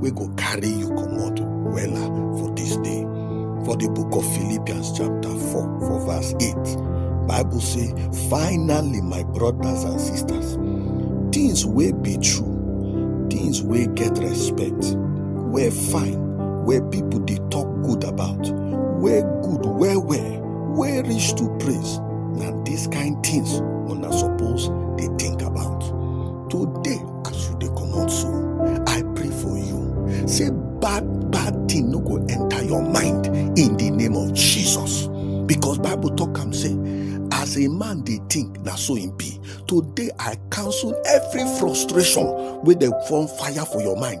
wey go carry you comot wella for dis day for di book of philippians chapter 4 for verse 8 bible say finally my brothers and sisters things wey be true things wey get respect wey fine wey pipo dey tok good about wey good well well wey reach to praise na dis kain things una suppose dey think about today As you dey comot so, I pray for you. Say bad bad thing no go enter your mind in the name of Jesus. Because Bible talk am say, as a man dey think, na so im be. Today I cancel every frustration wey dey form fire for your mind.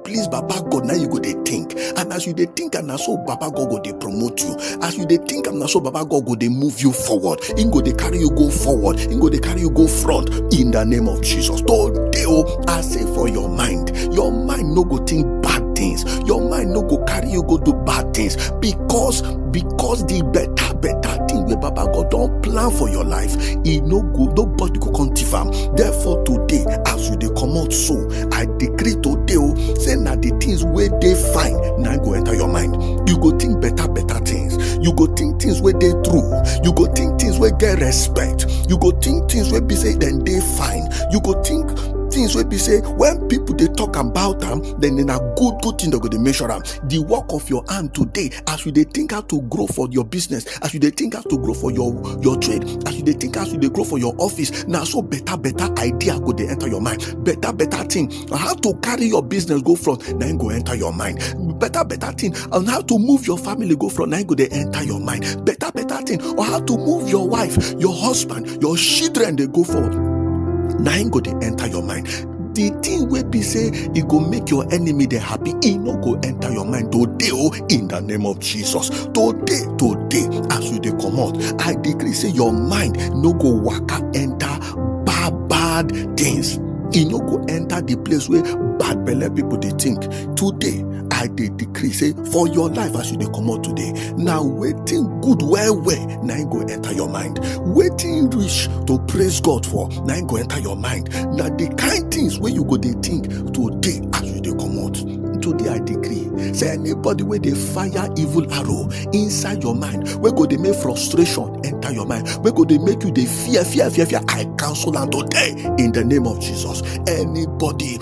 please baba god na you go dey think and as you dey think am na so baba god go dey promote you as you dey think am na so baba god go dey move you forward him go dey carry you go forward him go dey carry you go front in the name of jesus today o i say for your mind your mind no go think bad things your mind no go carry you go do bad things because because the better better thing wey baba god don plan for your life e no go nobody go come thief am therefore today as you dey comot so I decree today o say na the things wey dey fine na go enter your mind. You go think better better things. You go think things wey dey true. You go think things wey get respect. You go think things wey be say dem dey fine. You go think things wey be say when people dey talk about am then na good good thing dem go dey mention am the work of your hand today as you dey think how to grow for your business as you dey think how to grow for your your trade as you dey think how you dey grow for your office na so better better idea go dey enter your mind better better thing on how to carry your business go front na im go enter your mind better better thing on how to move your family go front na im go dey enter your mind better better thing on how to move your wife your husband your children dey go forward na im go dey enter your mind the thing wey be say e go make your enemy dey happy e no go enter your mind today o in the name of jesus today today as you dey comot i decree say your mind no go waka enter bad bad things e no go enter the place wey bad belle people dey think today i dey decree say for your life as you dey comot today na wetin good well well na im go enter your mind wetin reach to praise god for na im go enter your mind na the kind things wey you go dey think today as you dey comot today i decree say anybody wey dey fire evil arrow inside your mind wey go dey make frustration enter your mind wey go dey make you dey fear fear fear fear i cancel am today in the name of jesus anybody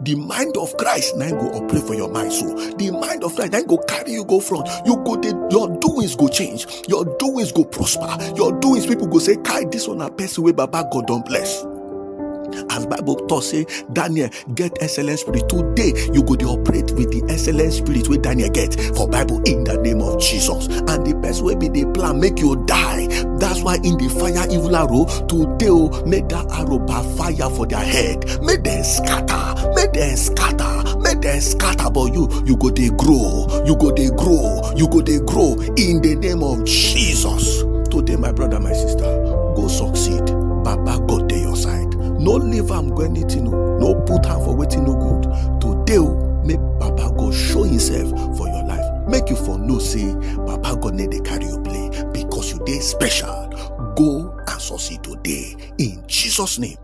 the mind of christ na go operate for your mind so the mind of christ na go carry you go front you go dey your doings go change your doings go prosper your doings people go say kai this one na person wey baba god don bless as bible talk say daniel get excellent spirit today you go dey operate with the excellent spirit wey daniel get for bible in the name of jesus and the person wey be dey plan make you die that's why in the fire evil arrow today o make that arrow backfire for their head make dem scatter make dem scatter make dem scatter but you you go dey grow you go dey grow you go dey grow in the name of jesus today my brother my sister go succeed baba god dey your side no leave am go anything o no put am for wetin no good today o make baba god show himself for your life make you for know say baba god no dey carry you play because you dey special go and succeed today in jesus name